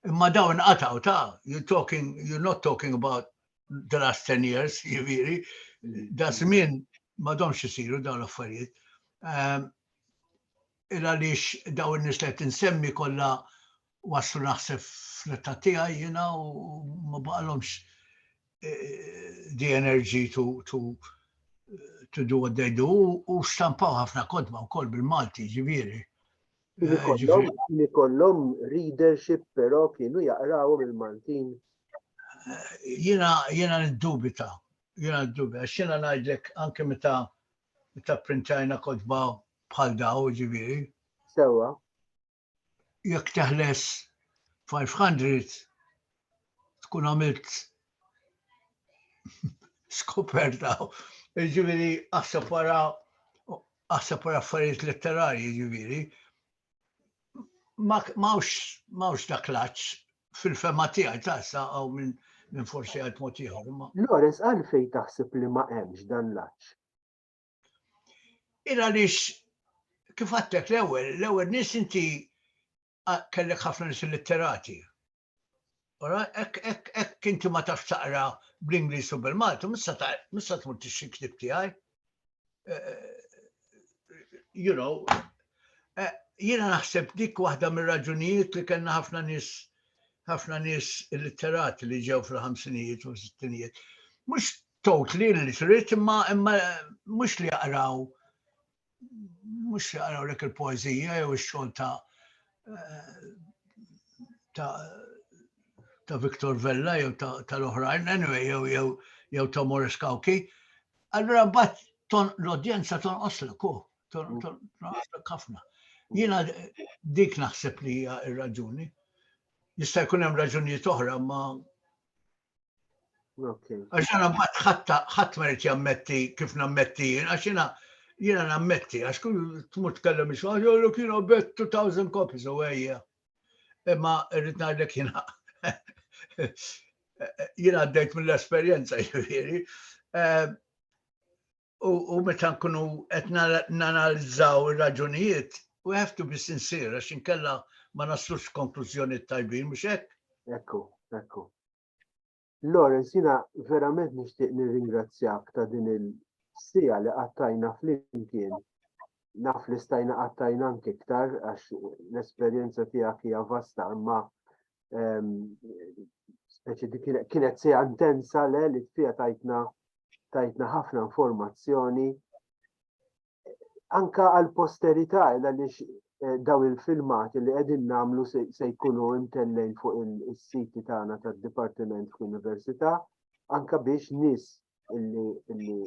imma daw inqataw ta' you talking you're not talking about the last 10 years, jiviri, da żmien ma domx isiru daw l-affarijiet. Ehm, il għaliex daw in-nies li qed insemmi kollha waslu naħseb fl-età tiegħi jiena u ma baqalhomx eh, the energy to, to, to do what they do u stampaw ħafna kodba wkoll bil-Malti ġifieri. Li kollhom readership però kienu jaqraw bil-Maltin. Eh, jiena jiena niddubita, jiena niddubita, għax jiena ngħidlek anke meta meta printajna kodba bħal daw ġifieri. Sewa. jekk teħles 500 tkun għamilt skoperta. Ġiviri, għasab wara għasab wara affarijiet letterarji, ġiviri. Mawx ta' klaċ fil-fema tiegħi ta' sa' għaw minn min forsi għal motiħor. Lorenz, għalfej taħseb li ma' hemmx dan laċ? Il għaliex kif għattek l-ewwel, l-ewwel nies inti kellek ħafna nies illitterati. Ora, hekk inti ma tafx taqra bl-Ingliż u bil-Malti, mista tmur tixxi ktib tiegħi. Eh, eh, you know, eh, jiena naħseb dik waħda mir-raġunijiet li kellna ħafna nies ħafna nies illitterati li ġew fil-ħamsinijiet u s-sittinijiet. Mhux totally illiterate imma imma mhux li jaqraw mhux li jaqraw lek il-poeżija jew ix-xogħol ta' eh, ta' ta' Viktor Vella jew tal-oħrajn, anyway, jew jew jew ta' Morris Kawki. Allura bat ton l-odjenza ton oslu ku, ton mm. oslu kafna. Jina dik naħseb li hija ir-raġuni. Jista' jkun hemm raġunijiet oħra ma Għax għana mbagħad ħatta ħadd ma rrid jammetti kif nammetti jien, għax jiena jiena nammetti, għax kull tmur tkellem ix għax jollu kien bet 2000 copies u għajja. Imma rrid ngħidlek jiena jiena għaddejt mill-esperjenza jiġifieri. Eh, u meta nkunu qed nanalizzaw ir-raġunijiet, we have to be sincere, għax inkella ma naslux konklużjoni tajbin, mhux hekk? Ekku, ekku. Lawrence, jina verament nixtieq nirringrazzjak ta' din il-sija li qattajna flimkien. Naf li stajna qattajna anke iktar għax l-esperjenza tiegħek hija vasta, imma kienet se intensa le li fija tajtna tajtna ħafna informazzjoni anka għal posterità għaliex eh, daw il-filmati li qegħdin nagħmlu se jkunu intellejn fuq is-siti tagħna tad-Dipartiment fl-Università anka biex nis illi illi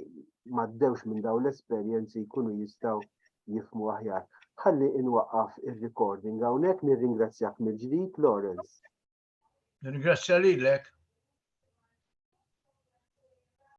maddewx minn dawn l-esperjenzi jkunu jistgħu jifmu aħjar. Ħalli inwaqqaf ir-recording hawnhekk nirringrazzjak mill-ġdid Lawrence. Nirringrazzja lilek.